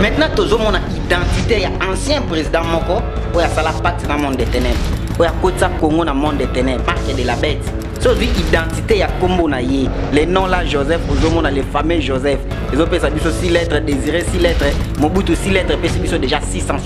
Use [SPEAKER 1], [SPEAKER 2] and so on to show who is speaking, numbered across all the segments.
[SPEAKER 1] maintenant tozomona identité ya ancien président moko oyo asala pacte na monde de ténèbre oyo akotisa congo na monde de ténèbre marque de la bête so ozwi identité ya nkombo na ye le nom la joseph ozomona le fameux joseph ezopesa biso si lettre désiré si lettre mobutu si lettre epesi biso déjà 600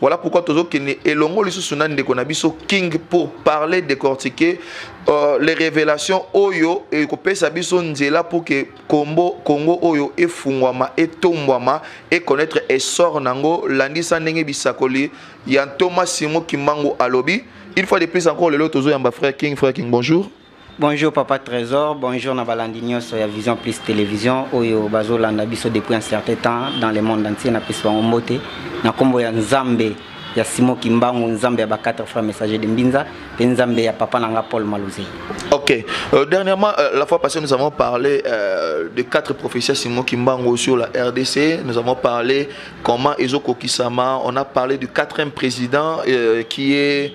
[SPEAKER 2] Voilà pourquoi tozo kende elongo lisusu na ndeko na biso King pour parler décortiquer euh, les révélations oyo et ko pesa biso nzela pour que Congo Congo oyo e fungwama e tombwama et connaître essor nango landisa ndenge bisakoli ya Thomas Simo Kimbangu alobi une fois de plus encore lelo tozo yamba frère King frère King bonjour Bonjour papa
[SPEAKER 1] Trésor, bonjour na balandi nyoso ya Vision Plus Télévision oyo bazolanda biso depuis un certain temps dans le monde entier na pesi bango mbote na kombo ya Nzambe ya Simo Kimbangu Nzambe ya ba quatre frères messagers de Mbinza pe Nzambe ya papa nanga Paul Maluze. Ok. Euh,
[SPEAKER 2] dernièrement, euh, la fois passée, nous avons parlé euh, de quatre prophéties Simon Kimbango sur la RDC. Nous avons parlé comment Ezo Kokisama. On a parlé du quatrième président euh, qui est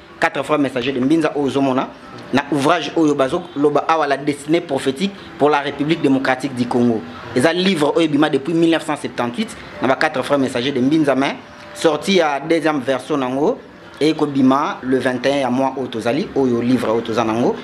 [SPEAKER 1] 4 fois messager de mbinza oyo ozomona na ouvrage oyo bazoloba awa la destinée prophétique pour la république démocratique du congo eza livre oyo ebima depuis 1978 na ba 4 frères messager de mbinza mais sorti ya deuxième version nango eye kobima le 21 ya mois oyo tozali oyo livre oyo toza nango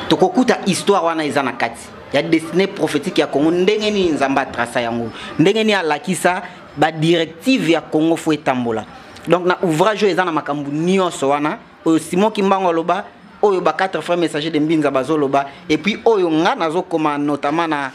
[SPEAKER 1] tokokuta histoire wana eza na kati ya destinée prophétique ya congo ndenge nini nzambe atrasa yango ndenge nini alakisa ba directive ya congo fo etambola donc na ouvrage oyo eza na makambo nyonso wana oyo simon kimbango aloba oyo ba quatre frères messager de mbinza bazoloba et puis oyo nga nazokoma notamment na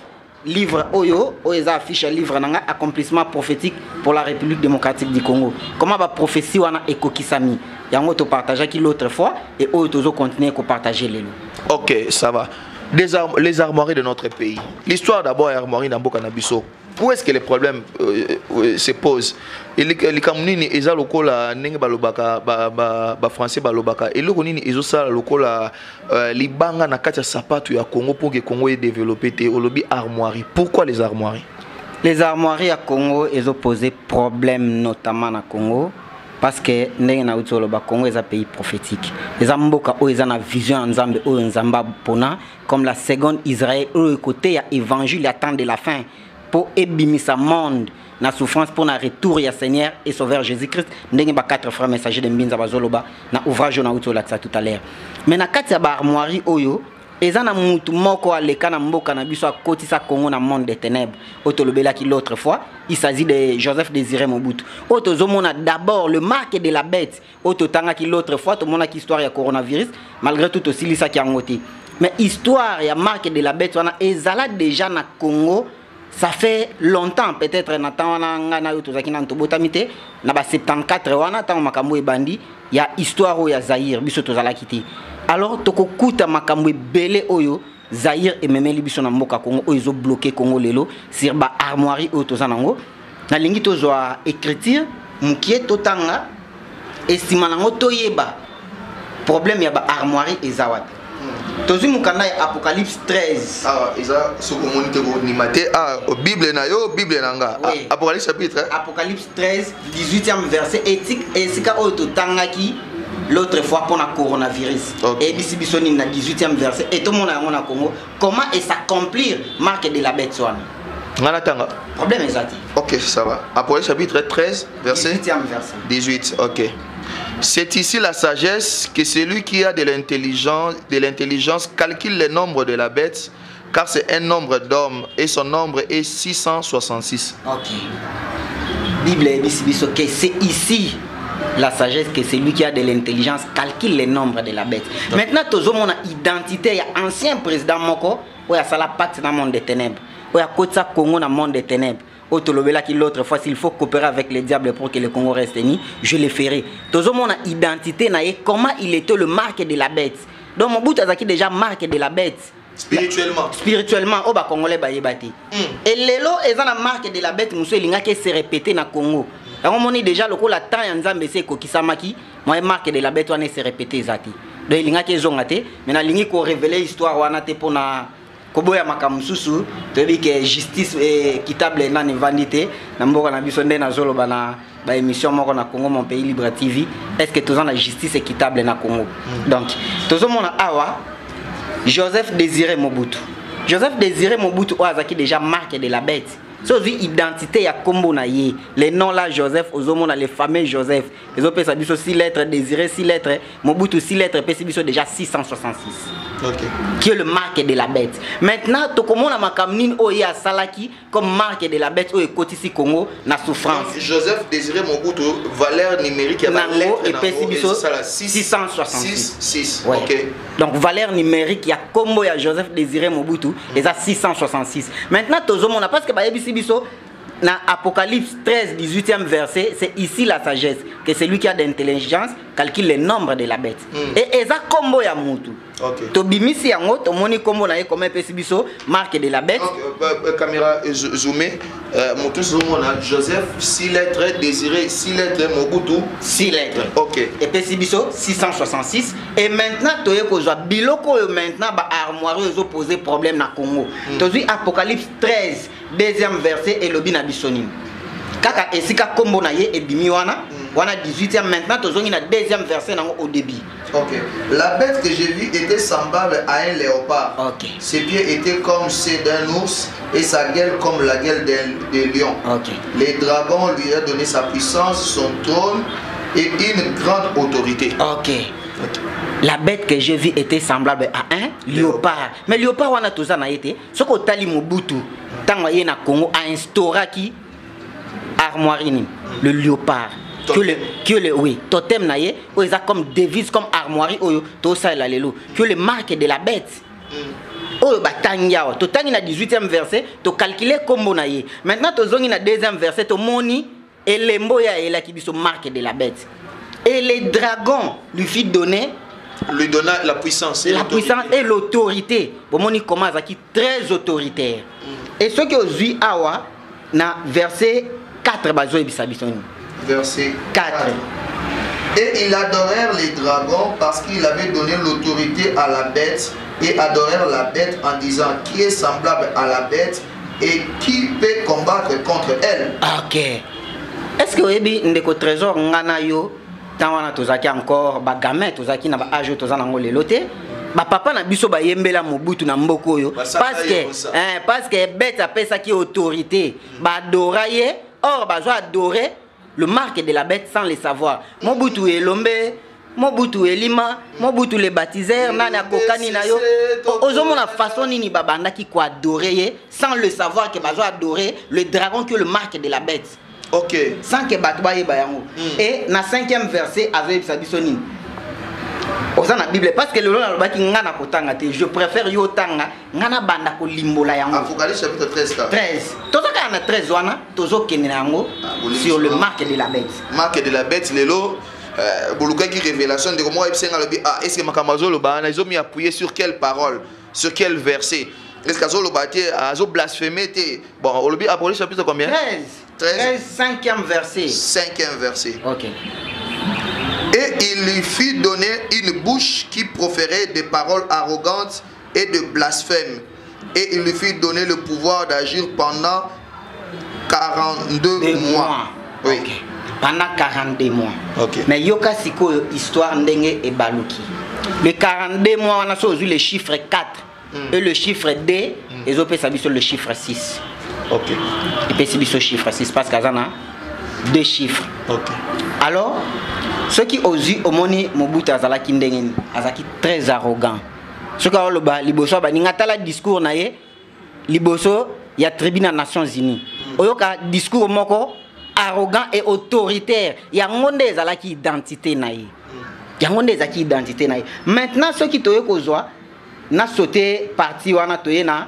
[SPEAKER 1] livre oyo oyo eza affiche ya livre na nga accomplissement prophétique pour la république démocratique du congo comment baprophétie wana ekokisami yango topartageaki l'autre fois et oyo tozocontinue kopartage lelo ok ça va
[SPEAKER 2] les, ar les armoiries de notre pays l'histoire d'abord ya armoirie na mboka na biso où est-ce que le problème euh, euh, se pose likambo nini eza lokola ndenge balobaka bafrançais ba, ba balobaka eloko nini ezosala lokola euh, libanga na kati ya sapato ya congo mpo ke congo edeveloppe te olobi armoirie pourquoi les armoiries les armoiries
[SPEAKER 1] ya congo ezopose problème notamment na congo parce que ndenge nauti oloba congo eza pays prophétique eza mboka oyo eza na vision ya nzambe oyo nzambe apona comme la seconde Israël oyo ekoteya évangile ya temps de la fin mpo ebimisa monde na souffrance mpo na retour ya seigneur et sauveur jésus-christ ndenge ba quatre frères messager de mbinza bazoloba na ouvrage oyo nauti olakisa tout à l'heure mais na kati ya baarmoirie oyo eza na mutu moko aleka na mboka na biso akotisa congo na monde de ténèbres oyo tolobelaki l'autre fois il s'agit de joseph désiré mobutu oyo tozomona d'abord le marque de la bête oyo totangaki l'autre fois tomonaki histoire ya coronavirus malgré tout tosilisaki yango te mais histoire ya marque de la bête wana ezala déjà na congo ça fait longtemps peut-être na temps wana ngai nayo tozalaki nanu tobotami te na ba 74 wana ntango makambo ebandi ya histoire oyo ya zaire biso tozalaki te alors tokokuta makambo ebele oyo Zaire ememeli biso na mboka Congo oyo ezo bloquer Congo lelo sur ba armoiries oyo toza nango nalingi tozwa écriture mukie totanga esima nango toyeba problème ya ba armoiries eza wapi tozwi mokanda ya apocalypse 13 awa ah, eza soki
[SPEAKER 2] omoni te kondima te ah, bible na yo bible na nga oui. Ah, apocalypse chapitre apocalypse 13 18e
[SPEAKER 1] verset ethique esika oyo totangaki l'autre fois mpo na coronavirus okay. eyebisi biso nini na 18e verset e tomona yango na congo comment e s'accomplir marque de la bête wana nga natanga problème eza te ok ça va
[SPEAKER 2] apocalypse chapitre 13 verset 18e verset
[SPEAKER 1] 18 ok
[SPEAKER 2] C'est ici la sagesse que celui qui a de l'intelligence, de l'intelligence calcule le nombre de la bête Car c'est un nombre d'hommes et son nombre est 666. Ok.
[SPEAKER 1] Bible dit biso que c'est ici la sagesse que celui qui a de l'intelligence calcule les nombres de la bête. Okay. Maintenant tozo mona identité ya ancien président moko oyo asala pacte na monde des ténèbres. Oyo akotisa Congo na monde des ténèbres. oyo tolobelaki l'autre fois s'il faut coopérer avec le diable pour que le congo reste ni je le ferai tozomona identité na ye comment il était le marque de la bête donc mobutu azalaki déjà marque de la bête spirituellement
[SPEAKER 2] spirituellement oyo oh,
[SPEAKER 1] bacongolais bayeba te mm. e lelo eza na marque de la bête mosusu elingaki ese répéte na congo yango omoni déjà lokola temps ya nzambe ese ekokisamaki moye marque de la bête wana ese répéte eza te donc elingaki ezonga te mais nalingi korevele histoire wana te mpo na koboya makambo mosusu toyebi ke justice équitable eh, nani evandi te na mboka na biso nde nazoloba na baémission moko na congo mon pays libre tv est ce que toza na justice équitable na congo mm. donc tozomona awa joseph désiré mobutu joseph désiré mobutu oyo azalaki déjà marque de la bête so ozwi identité ya nkombo na ye le nom la joseph ozomona le fameux joseph ezopesa biso 6 lettres désiré 6 lettres mobutu 6 lettres epesi biso déjà 666 okay. qui est le marque de la bête maintenant tokomona makambo nini oyo ye asalaki comme marque de la bête oyo ekotisi congo na souffrance Donc, joseph désiré
[SPEAKER 2] mobutu valeur numérique ya nango epesi
[SPEAKER 1] biso 666 ouais.
[SPEAKER 2] okay. donc
[SPEAKER 1] valeur numérique ya nkombo ya joseph désiré mobutu eza 666 maintenant tozomona parce que bayebisi biso na Apocalypse 13, 18e verset, c'est ici la sagesse, que celui qui a d'intelligence calcule le nombre de la bête. Mm. Et eza combo ya mutu. Okay. tobimisi yango tomoni nkombo na ye koma epesi biso marque de la bête okay. Bah, bah, caméra
[SPEAKER 2] euh, zoome euh, moto ezomona joseph si lettre désiré si lettre mobutu si lettre ok epesi biso 666 et maintenant toye kozwa biloko oyo maintenant baarmoire oyo ezopose problème na congo mm. tozwi apocalypse 13 deuxième verset elobi na biso nini kaka esika kombo na ye ebimi wana wana 18e maintenant tozongi na deuxième verset nango au début ok la bête que j'ai vue était semblable à un léopard ok ses pieds
[SPEAKER 1] étaient
[SPEAKER 2] comme ceux d'un ours et sa gueule comme la gueule d'un de lion ok les
[SPEAKER 1] dragons
[SPEAKER 2] lui a donné sa puissance son trône et une grande autorité ok, okay.
[SPEAKER 1] la bête que j'ai vue était semblable à un léopard mais léopard wana toza na ye te soki otali mobutu ntango aye na congo ainstauraki armoirie nini le léopard kiole oui totem na ye oyo eza comme devise comme armoirie oyo tosalela lelo kiole marque de la bête mm. oyo batangi awa totangi na 18e verset tocalcule nkombo na ye maintenant tozongi na 2e verset tomoni elembo ya elaki biso marque de la bête et les dragons lui fit donner lui donna la puissance
[SPEAKER 2] la puissance et
[SPEAKER 1] l'autorité bomoni comment azalaki très autoritaire mm. et soki ozwi awa na verset 4 bazoyebisa biso nini verset
[SPEAKER 2] 4, 4. Et ils adorèrent les dragons parce qu'il avait donné l'autorité à la bête et adorèrent la bête en disant qui est semblable à la bête et qui peut combattre contre elle ok est
[SPEAKER 1] ce que oyebi ndeko trésor nga na yo ntango wana tozalaki encore bagamin tozalaki na baage oyo toza nango lelo te bapapa na biso bayembela mobutu na mboka oyo parceke eh, parceke bete apesaki autorité badora ye or bazo adore le marque de la bête sans le savoir mobutu elombe mobutu elima mobutu le baptiseur nani akokani na yo ozomona façon nini babandaki koadore ye sans le savoir ke bazo adore le dragon que le marque de la bête ok sans
[SPEAKER 2] ke bato
[SPEAKER 1] bayeba yango mm. e na cinquième verset azoyebisa biso nini oza na bible parce que lelo nalobaki nga na kotanga te je préfère yo otanga nga nabanda kolimbola yango apocalypse chapitre 13
[SPEAKER 2] kaka 13 toza kaka na
[SPEAKER 1] 13 wana tozokende na yango Ah, bolingisi sur le yango. marque de la bête marque de la bête
[SPEAKER 2] lelo euh, bolukaki révélation ndeko moko ayebisi nga alobi ah estce makambo azoloba wana ezomi appuye sur quelle parole sur quel verset estce azoloba te azoblaspheme te bon olobi apolis chapitre combien 13 13. 13 cinquième
[SPEAKER 1] verset cinquième verset
[SPEAKER 2] ok et il lui fit donner une bouche qui proférait des paroles arrogantes et de blasphème et il lui fut donné le pouvoir d'agir pendant 42 Des mois. mois. Oui. Okay. Pendant
[SPEAKER 1] 42 mois. Okay. Mais yoka
[SPEAKER 2] sikoyo
[SPEAKER 1] histoire ndenge ebaluki. Les 42 mois on a sozu le chiffre 4 mm. et le chiffre 2 mm. ezopesa biso le chiffre 6. OK.
[SPEAKER 2] Epesi
[SPEAKER 1] biso chiffre 6 parce que azana deux chiffres. OK.
[SPEAKER 2] Alors
[SPEAKER 1] ceux qui osent omoni Mobutu azalaki ndenge azalaki très arrogant. soki aoloba liboso ya baninga tala discours na ye liboso ya tribu na nations unies mm. oyoka discours moko arrogant et autoritaire yango nde ezalaki identité na ye mm. yango nde ezalaki identité na ye maintenant soki toye kozwa na saute parti wana toye na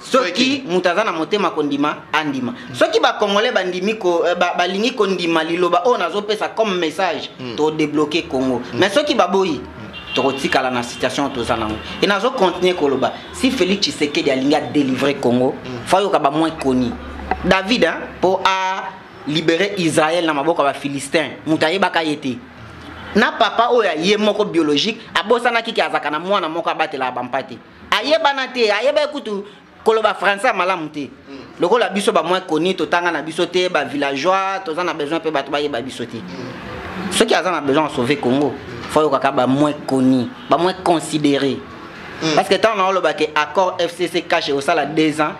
[SPEAKER 1] soki moto aza na motema kondima andima soki bacongolais bandimi ko, eh, ba, balingi kondima liloba oyo nazopesa comme message mm. todebloke congo mm. mais soki baboyi mm. tokotikala na situation toza nango e nazo continuer koloba si félix tshisekedi alingi adelivre congo mm. fayoka bamoin koni david mpo a libere israel na maboko ya bafilistin moto ayebaka ye te na papa oyo aye moko biologique abosanaki ke azalaka na mwana moko abatelaka bampate ayebana te ayebaki kutu koloba français ya malamu te hmm. lokola biso ba moins connu totanga na biso te ba villageois toza na besoin mpe bato bayeba biso te hmm. soki aza na besoin ya sauver congo fo ayokaka ba moins connu ba moins considéré hmm. parce que ntango naolobake accord fcc cache osala deux ans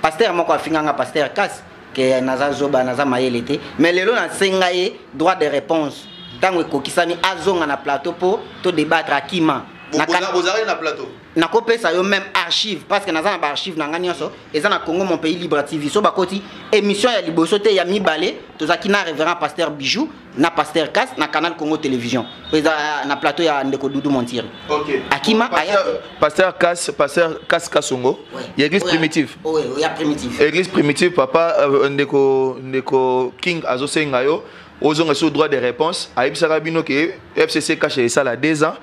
[SPEAKER 1] pasteur moko afinganga pasteur kasi ke naza zoba naza mayele te mais lelo nasenga ye droit de réponse ntango ekokisami azonga na plateau mpo todebatre akima ozalaki
[SPEAKER 2] na plateau nakopesa yo
[SPEAKER 1] même archive parce que naza na baarchive na ngai nyonso eza na congo mon pays libre tv so bakoti émission ya liboso te ya mibale tozalaki na révérend pasteur bijou na pasteur kas na canal congo télévision eza euh, na plateau ya ndeko dudu montiri okay. akima
[SPEAKER 2] aya
[SPEAKER 1] pasteur
[SPEAKER 2] kas pasteur kas kasongo ouais. ya église oh, primitive ya oh, oh, primitive
[SPEAKER 1] église primitive papa
[SPEAKER 2] euh, ndeko ndeko king azosenga yo ozonga so droit de réponse ayebisaka bino ke fcc kashe esala 2 ans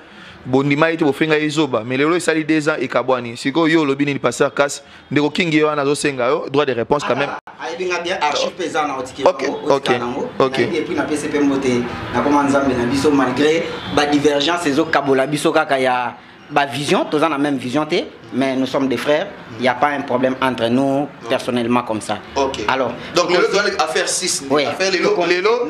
[SPEAKER 2] bondima ye te bofenga ye zoba mais lelo esali 2 ans ekabwani sikoyo yo olobi nini pasteur kas ndeko kingi ye wana azosenga yo droit de réponse quand même ah, ayebi nga bien archive
[SPEAKER 1] mpe eza na otikiaotika nango
[SPEAKER 2] epuis napesi mpe
[SPEAKER 1] mbote nakoma nzambe na biso malgré badivergence ezokabola biso kaka ya bavision toza na même vision te mais nous sommes des frères il n'y a pas un problème entre nous personnellement comme ça okay. alors donc
[SPEAKER 2] lelo tozali
[SPEAKER 1] affaire
[SPEAKER 2] 6 oui. affaire lelo lelo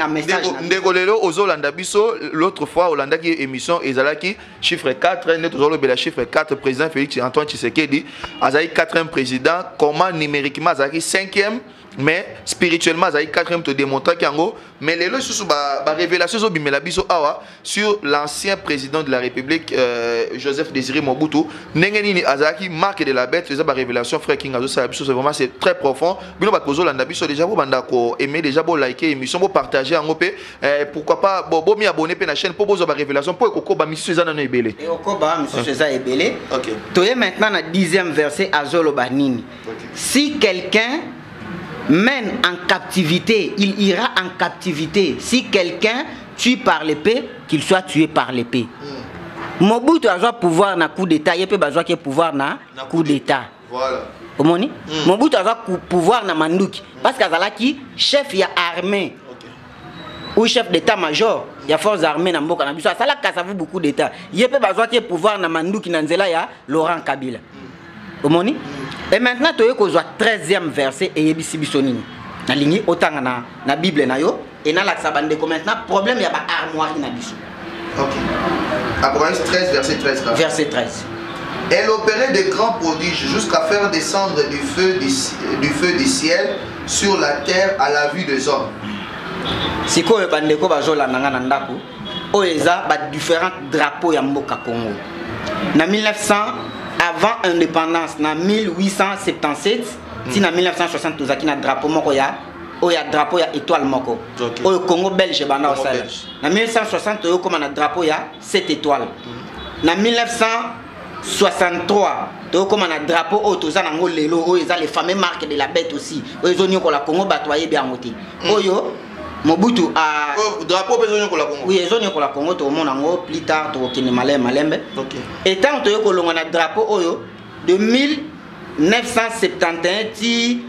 [SPEAKER 2] ndeko lelo ozolanda biso l'autre fois olandaki émission ezalaki chiffre 4 nde tozolobela chiffre 4 président félix antoine tshisekedi azali 4e président comment numériquement azalaki 5e mais spirituellement azali 4e todemontraki yango mais lelo lisusu barévélation ba ezobimela biso awa sur l'ancien président de la république euh, joseph désiré mobutu ndenge nini azalaki marque de la bête eza barévélation frère king azosala biso c'est vraiment c'est très profond bino bato bozolanda biso déjà bobanda ko aime déjà bolike émission bopartage yango mpe Eh, pourquoi pas bo, bo mi abonné pe na chaîne po bozo ba révélation po ekokoba misusu eza nanu ebele ekokoba misusu
[SPEAKER 1] eza ebele okay. toye maintenant
[SPEAKER 2] na
[SPEAKER 1] 10e verset azoloba nini okay. si quelqu'un mène en captivité il ira en captivité si quelqu'un tue par l'épée qu'il soit tué par l'épée mm. mobutu azwa pouvoir na coup d'état ye mpe bazwaki pouvoir na, na coup d'état Voilà. omoni
[SPEAKER 2] mm.
[SPEAKER 1] mobutu aza pouvoir na manduki mm. parce que azalaki
[SPEAKER 2] chef
[SPEAKER 1] ya armée okay. ou chef d'état major ya force armée na mboka na biso asalaki kasavu beaucoup d'état ye mpe bazwaki ye pouvoir na manduki na nzela ya laurent kabila mm. omoni mm. et maintenant toye kozwa 13e verset eyebisi biso nini nalingi otanga na, na bible na yo et nalakisa bandeko maintenant problème ya baarmoirie na biso okay. apocalypse 13
[SPEAKER 2] verset 13 là. verset
[SPEAKER 1] 13 elle opérait
[SPEAKER 2] de grands prodiges jusqu'à faire descendre du feu du, du feu du ciel sur la terre à la vue des hommes sikoyo
[SPEAKER 1] bandeko bazolanda nga na ndako oyo eza badifférent drapeau ya mboka congo na 1900 avant indépendance na 1877 ti na 1960 tozalaki na drapeau moko ya oyo ya drapeau ya étoile moko okay. oyo congo belge ebanda kosala na 1960 oyo okoma na drapeau ya 7 étoile mm. na 1963 tokokoma na drapeau oyo toza nango lelo oyo eza le fameux marque de la bête aussi oyo ezoniokola congo bato ayebi yango te mm. oyo mobutu a oh, drapeau mpe ezoniokola
[SPEAKER 2] congo oui ezoniokola congo
[SPEAKER 1] tokomona yango plus tard tokokende malembe malembe okay. etango
[SPEAKER 2] toyei kolongwa
[SPEAKER 1] na drapeau oyo de 1971 ti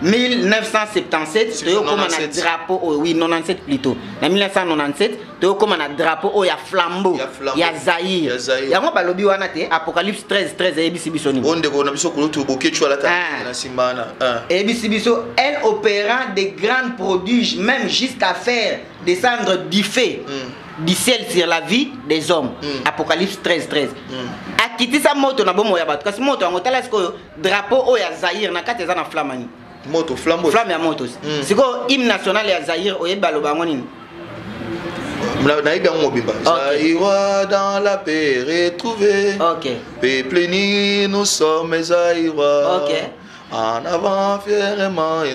[SPEAKER 1] 1977 toyokoma na drapeau oyo oui 97 plutôt na 1997 toyokoma na drapeau oyo ya flambeau ya zaire yango balobi wana te apocalypse 13 13 eyebisi biso nini ondeko na biso kulutu
[SPEAKER 2] boketshu alata ah. na nsima wana ah. eyebisi biso
[SPEAKER 1] elle opérant des grands prodiges même jusqu'à faire descendre du fait mm. du ciel sur la vie des hommes mm. apocalypse 13 13 mm. akitisa moto na bomoi ya bato kasi moto yango tala sikoyo drapeau oyo ya zaire na kati eza na flamme nini moto flambo
[SPEAKER 2] flamme ya moto mm.
[SPEAKER 1] sikoyo hymne national ya zaire oyebi baloba yango nini
[SPEAKER 2] nayebi yango mobimba zaïrois dans la paix retrouvé okay. peuple
[SPEAKER 1] ni
[SPEAKER 2] nous sommes zaïrois okay.
[SPEAKER 1] en avant
[SPEAKER 2] fièrement et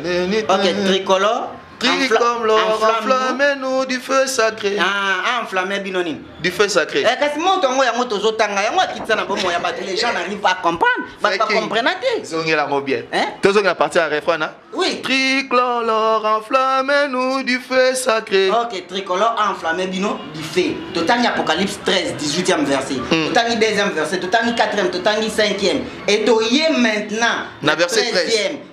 [SPEAKER 2] okay,
[SPEAKER 1] tricolore Qui comme l'or
[SPEAKER 2] enflamme nous du feu sacré. Ah, ah enflamme bino
[SPEAKER 1] nini? Du feu sacré. Eh,
[SPEAKER 2] kasi moto yango yango
[SPEAKER 1] tozotanga yango akitisa na bomoi ya bato les gens n'arrivent pas à comprendre bato bacomprena te zongela yango bien
[SPEAKER 2] eh? tozongela parti ya refrain na oui tricolore enflamme nous du feu sacré ok tricolore
[SPEAKER 1] enflamme bino du feu totangi apocalypse 13 18e verset hmm. totangi 2e verset totangi 4e totangi 5e et toye maintenant na verset
[SPEAKER 2] 13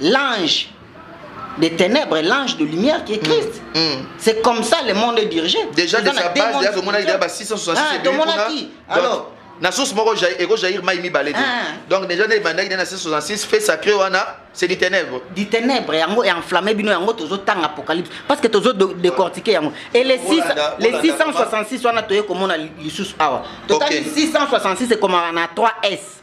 [SPEAKER 1] l'ange de ténèbres l'ange de lumière qui est Christ mm. Mm. c'est comme ça le monde est dirigé déjà de sa base
[SPEAKER 2] déjà tomona déjà ba 666 ah, tomona qui alors na source moko eko jair mai mibale te ah. donc déjà nde ebandaki nde na 666 fait sacré wana c'est du ténèbre du ténèbre yango enflammé
[SPEAKER 1] bino yango tozotanga apocalypse parce que tozo décortiquer yango et les 6 les 666 wana toye komona lisusu awa totali 666 ekomaka na 3 s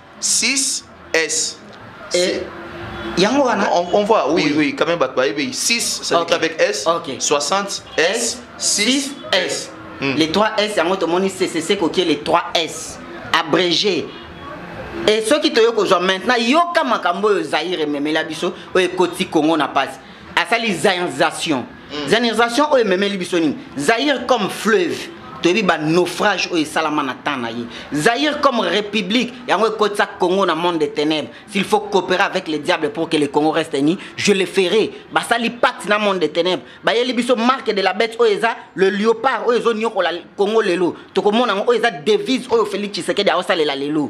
[SPEAKER 2] 6 S.
[SPEAKER 1] Et yango wana
[SPEAKER 2] on, on voit oui oui, oui quand même bato bayebi 6 ça okay. avec S okay. 60 S 6 S hmm. les 3 S
[SPEAKER 1] yango tomoni CCC kokie les 3 S abrégé et soki toyei kozwa maintenant yoka makambo oyo zaire ememela biso oyo ekoti congo na pasi asali zanisation mm. zanisation oyo ememeli biso nini zaire comme fleuve toyebi banaufrage oyo esalama na temps na ye zaire comme république yango ekotisa congo na monde des ténèbres s'il faut coopérer avec le diable pour que le congo reste ni je le ferai basali pacte na monde des ténèbres bayeli biso marque de la bête oyo eza le liopard oyo ezoniokola congo lelo tokomona yango oyo eza devise oyo félix tshisekedi aosalela lelo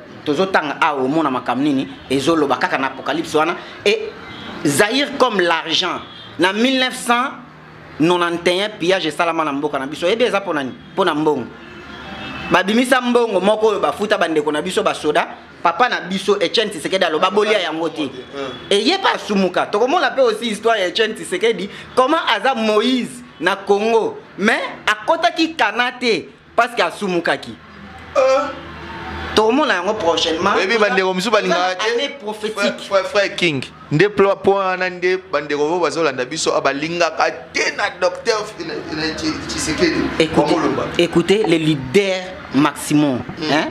[SPEAKER 2] tozotanga
[SPEAKER 1] awa omona makambo nini ezoloba kaka na apocalypse wana e zaire comme l'argent na 1991 pillage esalama na mboka na biso oyebi eza mpo nani mpo na mbongo babimisa mbongo moko oyo bafuta bandeko na biso basoda papa na biso etienne tisekedi aloba bolia yango te eye mpe asumuka tokomona mpe aussi histoire ya etienne tisekedi comment aza moïse na congo mais akotaki kana te parce que asumukaki euh. tokomona yango prochainement oyebi bandeko mosusu
[SPEAKER 2] balingaka te
[SPEAKER 1] frère king
[SPEAKER 2] nde po wana nde bandeko vo bazolanda biso ah, balingaka te na docteur tshisekedi omoloba
[SPEAKER 1] écoutez le leader maximum mm. hein?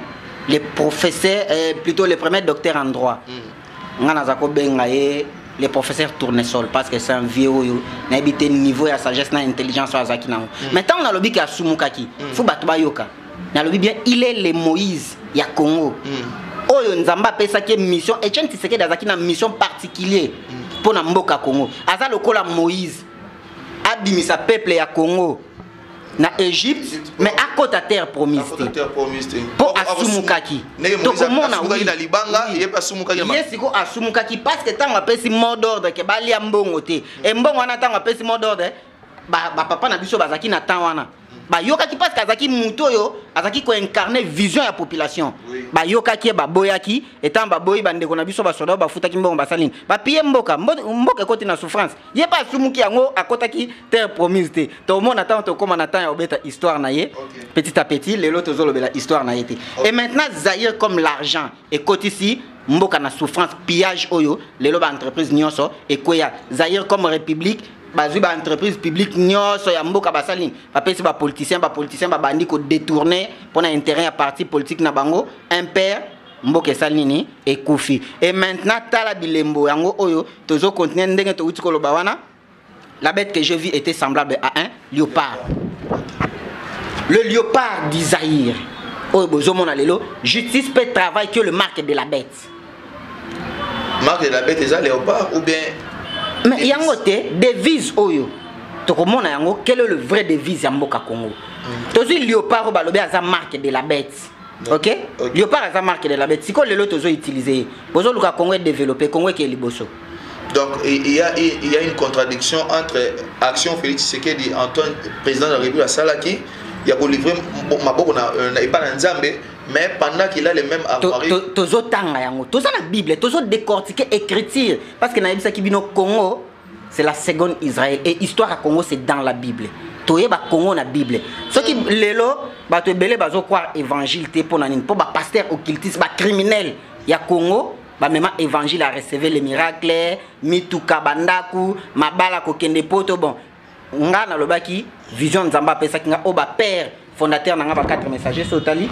[SPEAKER 1] le professeur euh, plutôt le premier docteur en droit mm. nga naza kobenga ye le professeur tournesol parce que c'est un vieux oyo nayebi te niveau ya sagesse na intelligence oyo azalaki nango mm. mais ntango nalobi ke asumukaki mm. fo bato bayoka nalobi bien il est le moïse ya congo mm. oyo nzambe apesaki ye mission etienne tisekedi azalaki na mission particulier mpo na mboka congo aza lokola moïse abimisa peuple ya congo na egypte mais akota terre promise te mpo asumukaki tokomona
[SPEAKER 2] ye sikoyo asumukaki
[SPEAKER 1] parce que ntango apesi mot d'ordre ke balia mbongo te e mbongo wana ntango apesi mot d'ordre bapapa na biso bazalaki na temps wana bayokaki parce que azalaki moto oyo azalaki koincarne vision ya population bayokaki ye baboyaki etango baboyi bandeko na biso basoda oyo bafutaki mbongo basali nini bapiye mboka mboka ekoti na souffrance ye mpe asumuki yango akotaki terre promise te tomona ntango tokóma na temps ya kobeta histoire na ye petit à petit lelo tozolobela histoire na ye te et maintenant zaire comme l'argent ekotisi mboka na souffrance pillage oyo lelo baentreprise nyonso ekweya zaire comme république bazwi baentreprise publique nyonso ya mboka basali nini bapesi bapoliticien bapoliticien babandi kodetourne mpo na intérêt ya parti politique na bango impère mboka esali nini ekufi e maintenant tala bilembo yango oyo tozo continuer ndenge towuti koloba wana la bête que je vis était semblable à un léopard le léopard d'Isaïr oyo bozomona lelo justice peut travail que le marque de la bête
[SPEAKER 2] marque de la bête eza léopard ou bien mais yango
[SPEAKER 1] te devise oyo tokomona yango quel est le vrai devise ya mboka congo mm. tozwi léopard oyo balobi aza marque de la bête ok leopard aza marque de la bête sikoyo lelo tozo utiliser ye bozoluka congo edeveloppe congo ekeye liboso Donc
[SPEAKER 2] il y, a, il y a une contradiction entre action Félix Tshisekedi, Antoine, président de la République, Salaki, il y a livré Maboko na euh, pas na Nzambe, mais pendant qu'il a les mêmes armoiries. Tozo tanga yango,
[SPEAKER 1] tozo la Bible, tozo décortiquer écriture parce que na yebisa ki bino Congo c'est la seconde Israël et histoire à Congo c'est dans la Bible toyeba Congo na Bible Ce qui lelo bato ebele bazo croire évangile te pona nini po ba pasteur occultiste ba criminel ya Congo bamema évangile à recevoir les miracles mituka bandaku mabala kokende poto bon nga nalobaki vision nzambe apesaki nga oyo bapère fondateur na nga ba 4 messager so otali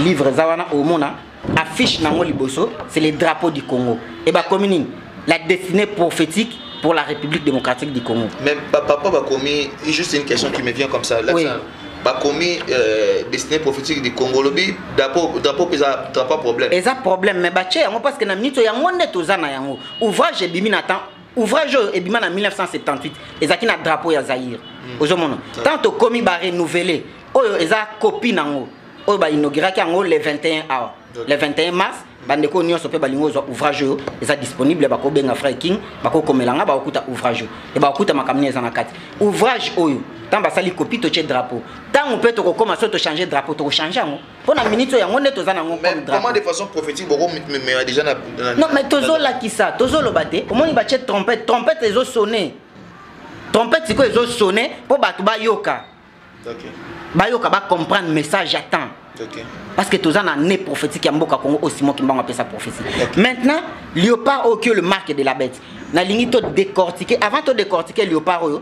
[SPEAKER 1] livre eza wana omona affiche nango liboso c'est le drapeau du congo e bakomi nini la destinée prophétique pour la république démocratique du congo mais papa bakomi
[SPEAKER 2] juste une question qui me vient comme ça là, oui. ça bakomi euh, destiné prophétique du congo lobi drapeau eza drapeau problème eza problème mais batie
[SPEAKER 1] yango parce que na minute yango nde toza na yango ouvrage ebimi na temps ouvrage oyo ebima na 1978 ezalaki na drapeau ya zaire mm. ozomona mm. tant tokomi barenouvele oyo eza copie nango oyo bainauguraki yango le 21 awa le 21 mars bandeko nyonso mpe balingi ozwa ouvrage oyo eza disponible bakobenga frai king bakokomela nga bakokuta ouvrage oyo e bakokuta makambo nini eza na kati ouvrage oyo ntango basali kopi totye drapeau ntango mpe tokokoma so tochange drapeau tokochange yango mpo na minute oyo yango nde toza na yango comme drapeau de façon
[SPEAKER 2] prophétique boko memela déjà na non mais tozolakisa
[SPEAKER 1] tozoloba te omoni batie trompette trompette ezosone trompette sikoyo ezosone mpo bato bayoka
[SPEAKER 2] bayoka
[SPEAKER 1] bacomprendre message ya temps parce que toza na ne prophétique ya mboka congo oyo simon kimbango apesa prophétie maintenant léopard oyo kio le marque de la bête nalingi to décortiquer avant to décortiquer léopard oyo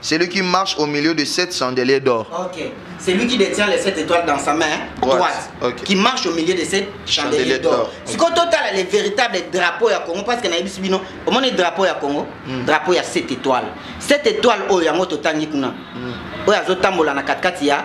[SPEAKER 2] Celui qui marche au milieu de sept chandeliers d'or. Ok. Celui qui
[SPEAKER 1] détient les sept étoiles dans sa main droite, droite okay. qui marche au milieu de sept chandeliers d'or. Si quand total les véritables drapeaux ya Congo parce que na yebisi bino, au moins drapeau ya Congo, mm. drapeau ya sept étoiles. Sept étoiles oyo yango totangi kuna. Mm. Oyo azotambola na katikati ya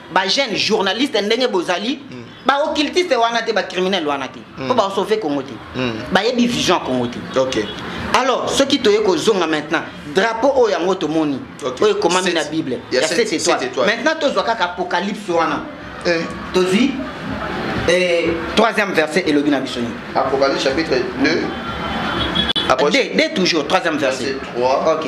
[SPEAKER 1] ba jeune journaliste ndenge bozali mm. ba occultiste wana te ba criminel wana te mm. po ba sauver Congo te mm. ba yebi vision Congo te OK alors
[SPEAKER 2] soki
[SPEAKER 1] toye kozonga maintenant drapeau oyo yango tomoni okay. oyo ekomami na bible ya 7 étoile maintenant tozwa kaka apocalypse wana eh. tozwi eh, troisième verset elobi na biso nini apocalypse chapitre
[SPEAKER 2] 2
[SPEAKER 1] Approche. D, D toujours, troisième verset. verset 3. Ok.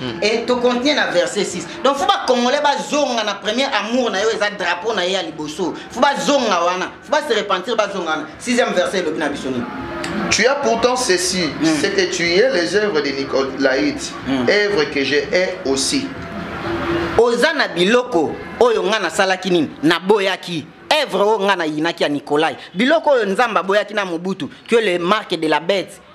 [SPEAKER 1] Hmm. et to continue na verset 6 donc fo bacongolais bazonga na premier amour na yo eza drapeau na ye ya liboso fo bazonga wana fo base repentir bazonga wana sixième verset elobi na biso nini Tu as pourtant
[SPEAKER 2] ceci, mm. c'est que tu es les œuvres de Nicolaïte, mm. œuvres que j'ai aussi.
[SPEAKER 1] oza na biloko oyo ngai nasalaki nini naboyaki evre oyo ngai nayinaki ya nikolai biloko oyo nzambe aboyaki na mobutu que le marque de la bete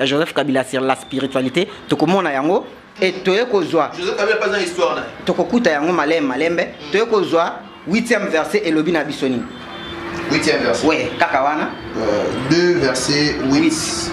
[SPEAKER 1] ya joseph kabila sur la spiritualité tokomona yango e toye kozwa
[SPEAKER 2] tokokuta yango malembe
[SPEAKER 1] malembe mm. toye kozwa 8e verset elobi na biso nini 8e
[SPEAKER 2] verset oui kaka wana 2
[SPEAKER 1] euh,
[SPEAKER 2] verset 8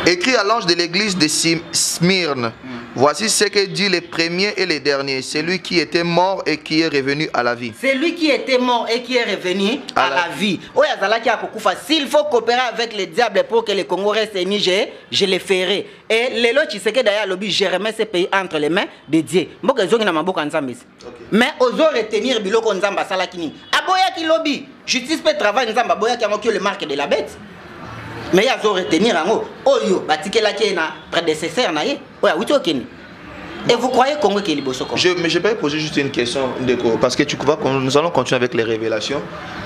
[SPEAKER 2] écrit à l'ange de l'église de Smyrne mm. Voici ce que dit le premier et le dernier, celui qui était mort et qui est revenu à la vie. Celui qui était mort
[SPEAKER 1] et qui est revenu à, la, vie. oyo azalaki akokufa s'il faut coopérer avec le diable pour que le congo reste uni je, je le ferai et lelo tshisekedi aye alobi je remets ce pays entre les mains de dieu mboka ezongi na maboko ya nzambe esi okay. mais ozo retenir biloko nzambe asalaki nini aboyaki lobi justice mpe travail nzambe aboyaki yango kio le marque de la bête mais ye azo retenir yango oyo batikelaki ye na prédécesseur na ye oyo awuti okende Et vous croyez Congo qui est liboso Congo Je mais j'ai pas posé juste une
[SPEAKER 2] question Ndeko parce que tu vas nous allons continuer avec les révélations.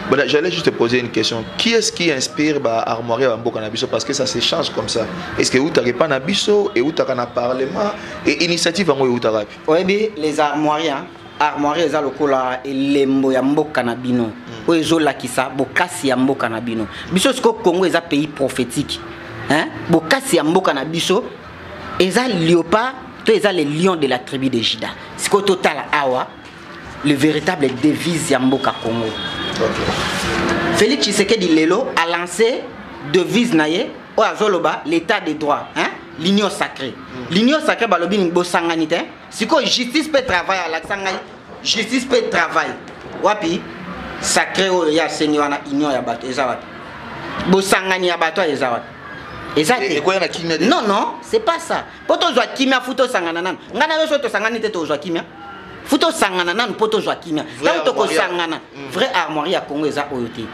[SPEAKER 2] Bon, j'allais juste te poser une question. Qui est-ce qui inspire ba armoire ba mboka na biso parce que ça s'échange comme ça. Est-ce que utaka pas na biso et utaka na parlement et initiative yango utaka pi. Oui mais les
[SPEAKER 1] armoires hein? armoire eza lokola elembo ya mboka na bino hmm. oyo ezolakisa bokasi ya mboka na bino biso sikoyo congo eza pays prophétique bokasi ya mboka na biso eza leopard to eza le lion de la tribu de juda sikoyo totala awa le véritable devise ya mboka congo okay. félix tshisekedi lelo alance devise na ye oyo azoloba l'état de droit hein? l'union sacrée mm. l'union sacrée balobi nini bosangani te sikoyo justice mpe travail alakisa ngai justice pe travail wapi sacré oyo ya asengi wana union ya bato eza wapi bosangani ya bato eza wapi eza te ekoya na kimia te non non c'est pas ça po tozwa kimia fu tosangana nanu ngai na yo so tosangani te tozwa kimia fu tosangana nanu po tozwa kimia ntango tokosangana mm. vrai armoirie ya congo eza oyo te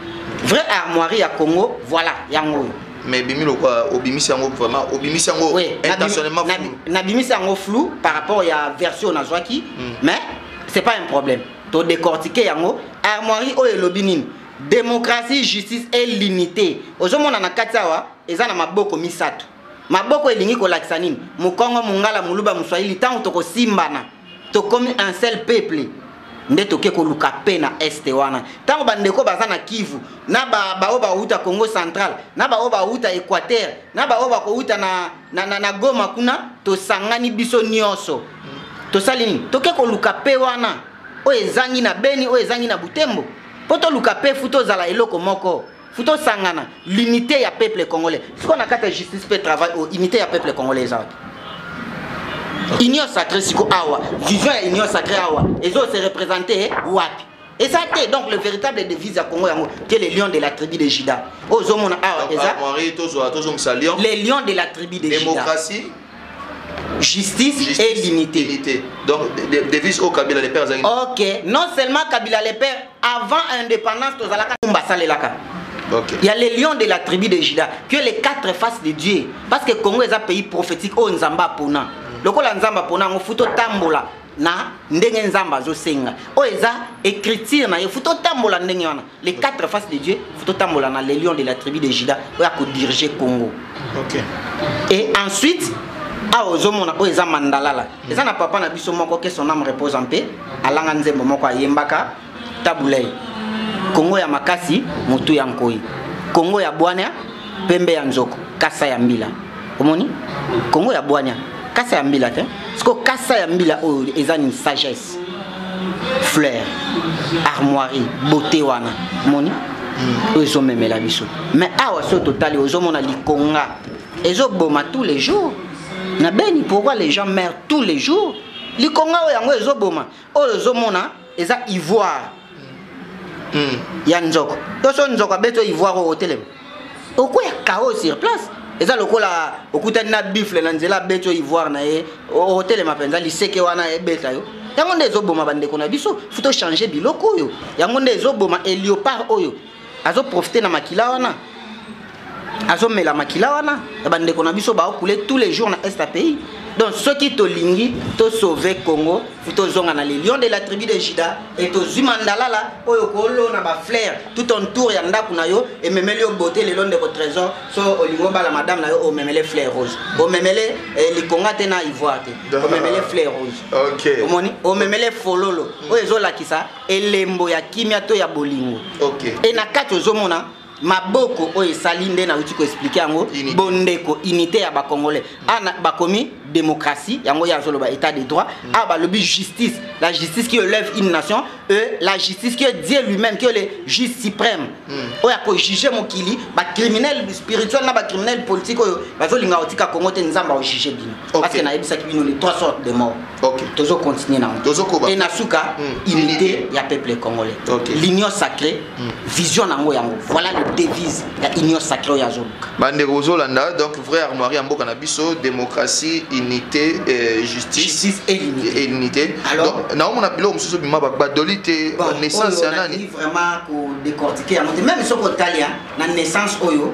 [SPEAKER 1] vrai armoirie ya congo voilà yango oyo mais
[SPEAKER 2] ebimi lokola obimisi yango vraiment obimisi yango oui, intentionnellement flou nabimisi yango flou
[SPEAKER 1] par rapport ya version nazwaki mm. mais c'est pas un problème to décortiquer yango armoirie oyo elobi nini démocratie justice et limité ozomona na kati awa eza na maboko misato maboko elingi kolakisa nini mokongo mongala moluba moswahili ntango tokosimbana tokomi un seul peuple nde toke koluka pe na este wana ntango bandeko baza na kivu na baoyo bauta congo central na baoyo bauta équateur na baoyo bakouta na, na, na, na goma kuna tosangani biso nyonso tosali nini toke koluka pe wana oyo ezangi na beni oyo ezangi na butembo mpo toluka pe fu tozala eloko moko faut tosangana l'unité ya peuple congolais sikoyo na kati ya justice mpe travail oyo oh, unité ya peuple congolais eza wapi union sacré siko awa vision ya union sacré awa ezo se représente eh, wapi eza te donc le véritable devise ya congo yango te le lion de la tribu de juda oyo ozomona awa eza ah, les lions de la tribu de juda justice, justice et l'unité. Unité. Donc,
[SPEAKER 2] devise au Kabila le père azali. OK, non seulement
[SPEAKER 1] Kabila le père avant indépendance tozalaka kumba salelaka. Okay. Il y a
[SPEAKER 2] les lions de la
[SPEAKER 1] tribu de Juda, que les quatre faces de Dieu. Parce que Congo est un pays prophétique, oh Nzamba Pona. Lokola Nzamba Pona, on fout tambola na ndenge Nzamba zo senga. Oh eza écriture na, il faut tambola ndenge wana. les quatre faces de dieu faut totambola na le lion de la tribu de juda oyo akodirige congo okay.
[SPEAKER 2] et
[SPEAKER 1] ensuite awa ozomona oyo eza mandalala eza na papa na biso moko ke son ame repose en paix alanga nzembo moko ayembaka tabulei kongo ya makasi motu ya nkoi kongo ya bwania pembe ya nzoko kasa ya mbila omoni kongo ya bwania kasa ya mbila te sikoyo kasa ya mbila oyo eza nini sagesse Grace fleur armoirie beauté wana moni oyo ezomemela biso mais awa soki totali ozomona likonga ezoboma tous les jours na beni pourquoi les gens meurent tous les jours likonga oyo yango ezoboma oyo ozomona eza ivoire hmm. ya nzoko toso nzoko abeti oyo ivoire oyo otelema okoya kao sur place eza lokola okutani na bifle na nzela abeti oyo ivoire na ye otelema mpenza liseke wana ebeta yo yango nde ezoboma bandeko na biso fo tochange biloko oyo yango nde ezoboma eliopard oyo azoprofite na makila wana azomela makila wana ya bandeko na biso baokule tous les jours na est ya pays donc soki tolingi tosauve congo tozonga na le lion de la tribu de juda e tozwi mandalala oyo kolona baflaire tout on tour ya ndako na yo ememeli yo bote lelo ndeko trésor so olingi obala madame na yo omemele flaire rose omemele eh, likonga te na ivoire te omemele flaire rose omoni
[SPEAKER 2] omemele
[SPEAKER 1] fololo oyo ezolakisa elembo ya kimia to ya bolingo e na
[SPEAKER 2] kati ozomona
[SPEAKER 1] maboko oyo esali nde nauti koexplike yango bondeko unité ya bacongolais ana ah, bakomi démocratie yango ye azoloba état de droit mm. awa ah, balobi justice la justice qui élève une nation e la justice qui dieu lui-même qui le juge suprême mm. oyo akojuge mokili bacriminel spirituel na bacriminel politique oyo bazolinga kotika congo te nzambe aojuge bino okay. parce que nayebisaki bino les trois sortes de mort okay. tozo continuer nango e na suka mm. unité ya peuple congolais okay. l'union sacrée mm. vision nango yango voilà le devise ya union sacrée oyo azoluka bandeko ozolanda
[SPEAKER 2] donc vrai armoire ya mboka na biso démocratie unité euh, justice, justice et l'unité, et
[SPEAKER 1] l'unité. alors naomona
[SPEAKER 2] biloko mosusu bima badoli te bon, naissance ya nani vraiment kodecortike
[SPEAKER 1] yango te meme soki otalia na naissance oyo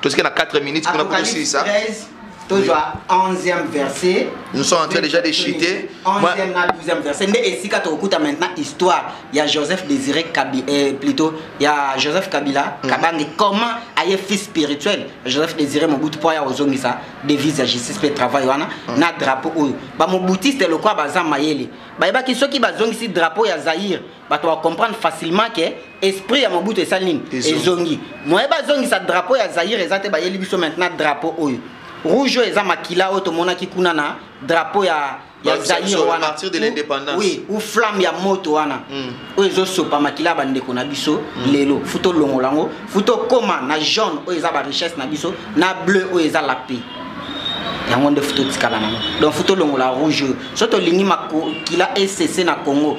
[SPEAKER 2] tosike na 4 minutes kuna po tosilisa
[SPEAKER 1] tozwa 11e verset nous sommes en train déjà de
[SPEAKER 2] chiter 11e na 12e
[SPEAKER 1] verset nde esika tokokuta maintenant histoire ya joseph désiré kabila eh, plutôt ya joseph kabila mm. kabange comment aye fils spirituel joseph désiré mobutu mpo aya kozongisa devise ya justice mpe travail wana mm. na drapeau oyo bamobutiste lokola baza mayele bayebaki soki bazongisi drapeau ya zaire bato ba comprendre facilement ke esprit ya mobutu esali nini ezongi moye bazongisa drapeau ya zaire eza te bayeli biso maintenant drapeau oyo rouge oyo eza makila oyo tomonaki kuna na drapeau ya ya zaire wana
[SPEAKER 2] oui ou flamme ya
[SPEAKER 1] moto wana hmm. oyo ezosopa makila ya bandeko na biso hmm. lelo fu tolongola yango fu tokóma na jaune oyo eza barichesse na biso na bleu oyo eza la paix yango nde fu totikala nango donc fu tolongola rouge oyo so tolingi makila esese na congo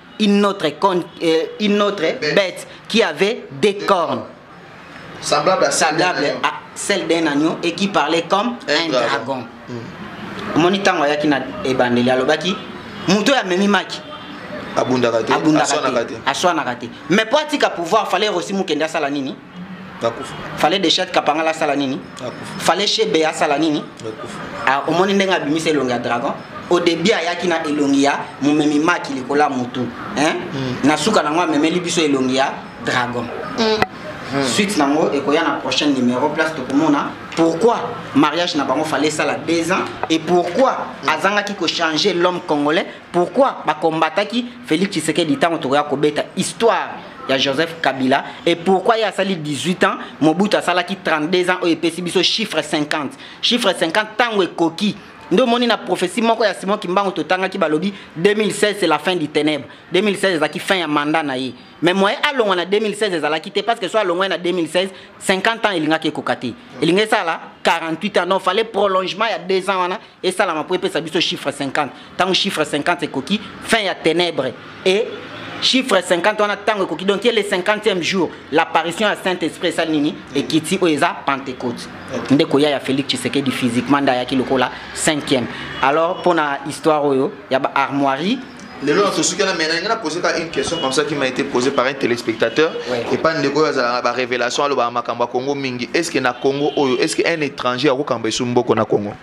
[SPEAKER 1] une autre, con, euh, une autre bête. bête qui avait des cornes.
[SPEAKER 2] Semblable à, semblable à
[SPEAKER 1] celle d'un agneau et qui parlait comme un, un dragon. dragon. Mm. omoni ntango ayaki na ebandeli alobaki moto oyo amemimaki abundaka
[SPEAKER 2] te
[SPEAKER 1] aswanaka te mais mpo atika pouvoir fale rosi mokende asala nini fale dechet kapangala asala nini fale shebe asala nini ah, omoni ndenge abimisa elongi ya dragon au début ayaki na elongi ya momemi maki likolo ya motu mm. na suka nango amemeli biso elongi ya dragon mm. Hmm. suite nango ekoya na prochaine numéro place tokomona pourquoi mariage na bango fallait esala deux ans et pourquoi hmm. azangaki kochanger l'homme congolais pourquoi bacombataki félix tshisekedi ntango tokoya kobeta histoire ya joseph kabila et pourquoi ye asali 18 ans mobutu asalaki 32 ans oyo epesi biso chiffre 50 chiffre 50 ntango ekoki nde omoni na prophétie moko ya simon kimbangu totangaki balobi 2016 c'est la fin du ténèbre 2016 ezalaki fin ya mandat na ye mais moye alongwa na 2016 ezalaki te parce que so alongwai na 2016 50 ans elingaki ekoka te elingaki esala 48 ans non fallait prolongement ya 2 ans wana esalama mpo epesa biso chiffre 50 ntango chiffre 50 ekoki fin ya ténèbre et chiffre 50 wana ntango ekoki donc ye le 50e jour l'apparition ya saint esprit esali nini ekiti oyo eza pentecote nde koya ya félix tshisekedi physiquement nde ayaki lokola 5e alors mpo na histoire oyo ya baarmoirie lelo na sosuki
[SPEAKER 2] na mena nga na poser kaka une question comme ça qui m'a été posée par un téléspectateur ouais. et pas ndeko oyo azalaka ba révélation alobaka makambo ya congo mingi est ce que na congo oyo est ce que un étranger akokamba esu mboko na congo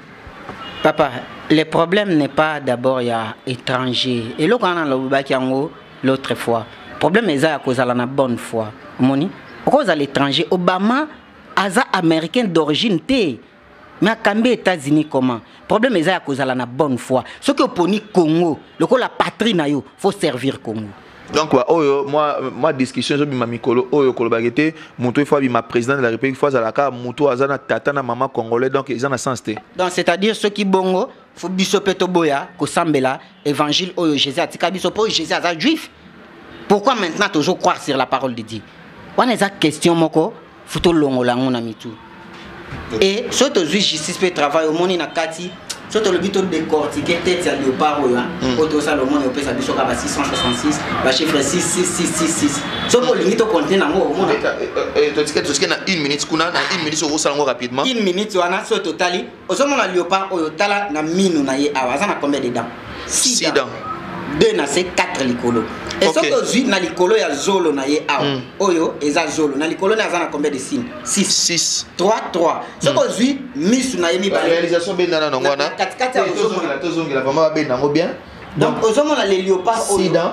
[SPEAKER 2] papa
[SPEAKER 1] le problème n'est pas d'abord ya étranger eloko wana nalobaki yango l'autre fois problème eza ya kozala na bonne foi omoni okozala étranger obama aza américain d'origine te na kambi Etats-Unis comment problème eza ya kozala na bonne foi soki oponi Congo lokola patrie na yo faut servir Congo donc ba oyo
[SPEAKER 2] moi moi discussion zo bima mikolo oyo koloba kete mutu ifo bima président de la république faut azala ka mutu azana tata na maman congolais donc ils en a sens te donc c'est à dire ceux qui
[SPEAKER 1] bongo faut biso pe toboya ko sambela évangile oyo Jésus atika biso po Jésus aza juif pourquoi maintenant toujours croire sur la parole de Dieu wana eza question moko faut tolongola yango na mitu e soki tozwi justice mpe travail omoni na kati soki tolobi todecortike tete ya leopard oyo oyo tozala omoni opesa biso kaka ba 666 bachiffre 66666 soki olingi tokonte nango omonatotike
[SPEAKER 2] na une minute kuna na une minute okosala yango rapidement une minute wana soki
[SPEAKER 1] totali ozomona leopard oyo tala na minu na ye awa aza na combien de dents six dents deux na se quatre likolo e okay. soki ozwi na likolo ya zolo na ye awa mm. oyo eza zolo na likolo na aza na combien de signe 6 3 3 soki mm. ozwi misu na ye mibalerealisation bendana nango wana
[SPEAKER 2] katikati ya ozongela
[SPEAKER 1] tozongela vraimen
[SPEAKER 2] babenda yango bien donc ozomona
[SPEAKER 1] le leopard oyo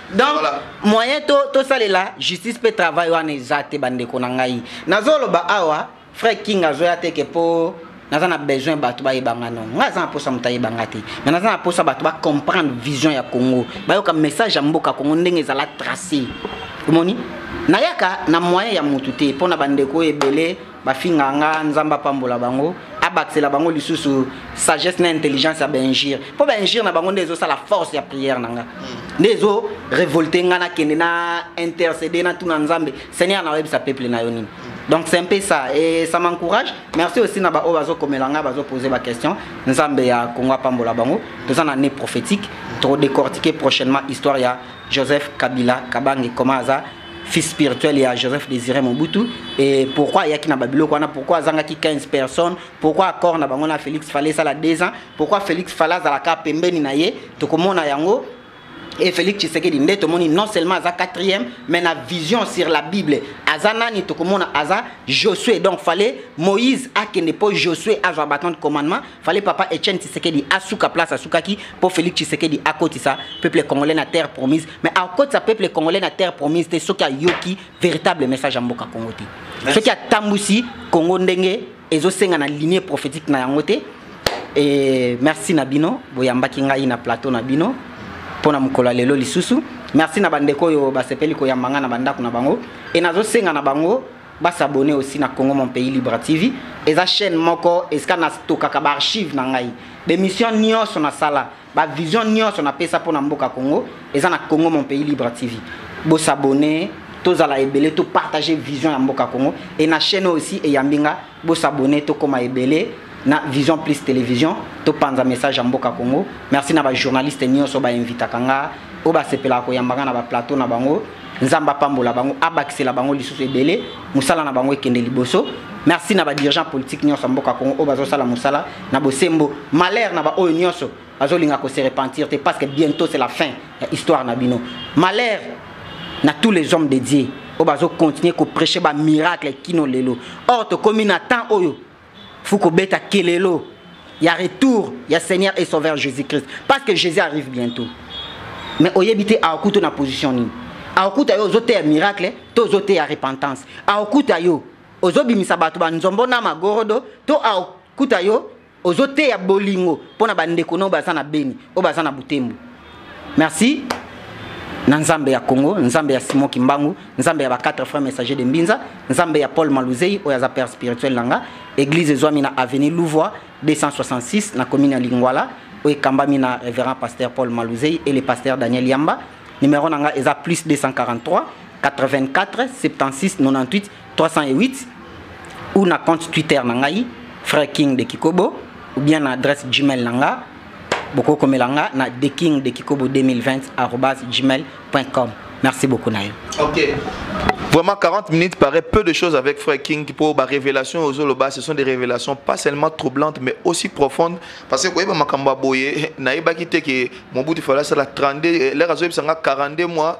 [SPEAKER 1] donc voilà. moyen to tosalela justice mpe travail wana eza te bandeko na ngai nazoloba awa frère king azoya teke mpo naza na besoin bato bayeba nga no ngai aza na mposa moto ayeba nga te mai naza na mposa bato bacomprendre vision ya congo bayoka message ya mboka congo ndenge ezala trace omoni nayaka na moyen ya motu te mpo na bandeko oyo ebele bafinga nga nzambe apambola bango abakisela bango lisusu sagesse na intelligence ya baingire mpo baingire na bango nde ezosala force ya prière na nga hmm. nde ezo révolte nga nakende na intercede natuna nzambe seigneur na oyebisa peuple na yo nini hmm. donc c'est un peu ça et ça m'encourage merci aussi na baoyo bazokomela ngai bazopose baquestion nzambe ya kongo apambola bango toza na année prophétique hmm. todécortique prochainement histoire ya joseph kabila kabange koma aza fils spirituel ya joseph désiré mobutu et pourquoi ayaki na babiloko wana pourquoi azangaki 15 personnes pourquoi accord na bango na félix fale esala 2 ans pourquoi félix fale azalaka pembeni na ye tokomona yango et félix tshisekedi nde tomoni non seulement aza quatrième mais na vision sur la bible aza nani tokomona aza josué donc fale moïse akende mpo josué azwa baton de commandement fale papa Etienne Tshisekedi asuka place asukaki po Felix Tshisekedi akotisa peuple congolais na terre promise mais akotisa peuple congolais na terre promise te soki ayoki véritable message ya mboka Congo te soki atambusi Congo ndenge ezosenga na lignée prophétique na yango te et merci na bino boyambaki ngai na plateau na bino pona mokolo ya lelo lisusu merci na bandeko oyo basepeli koyamba ngai na bandako na bango e nazosenga na bango ba s'abonner aussi na Congo mon pays libre TV eza chaîne moko esika na stokaka ba archive na ngai ba émission nyonso na sala ba vision nyonso na pesa pona mboka Congo eza na Congo mon pays libre TV bo s'abonner tozala ebele to partager vision ya mboka Congo et na chaîne aussi eyambi nga bo s'abonner to koma ebele na vision plus télévision to panza message ya mboka Congo merci na ba journaliste nyonso ba invitaka nga oyo basepelaka koyamba nga na ba plateau na bango nzambe apambola bango abakisela bango lisusu ebele mosala na bango ekende liboso merci na badirigent politique nyonso ya mboka congo oyo bazosala mosala na bosembo malheur na baoyo nyonso bazolinga kose repentir te parce que bientôt c'est la fin ya histoire na bino malheur na tous les hommes de dieu oyo bazocontinue koprêche bamiracle kino lelo or tokomi na temps oyo faut kobeta kelelo ya retour ya seigneur et sauveur jésus christ parce que jésus arrive bientôt mais oyebi te aokuta na position nini aokuta yo ozoteya miracle to ozoteya repentance aokuta yo ozobimisa bato banzombo na magorodo to aokuta yo ozoteya bolingo mpo na bandeko na oyo baza na beni oyo baza na butembo merci na nzambe ya congo nzambe ya simon kimbangu nzambe ya ba 4 frères messager de mbinza nzambe ya paul maluzei oyo aza père spirituel na nga église ezwami na avenue louvoi 266 na commune ya lingwala oyo ekambami na révérend pasteur paul maluzei et le pasteur daniel yamba numéro na nga eza plus 243 84 76 98 308 ou na compte Twitter na ngai Frère King de Kikobo ou bien na adresse Gmail na nga bokokomela nga na thekingdekikobo 2020 gmail.com merci beaucoup na yo okay.
[SPEAKER 2] Vraiment, 40 minutes paraît peu de choses avec Frère King pour ma révélation aux Zoloba. Ce sont des révélations pas seulement troublantes, mais aussi profondes. Parce que, vous voyez, Makamba Boye, Naïba Kiteke, Mobutu Falasa, la 32, l'air à 42 mois.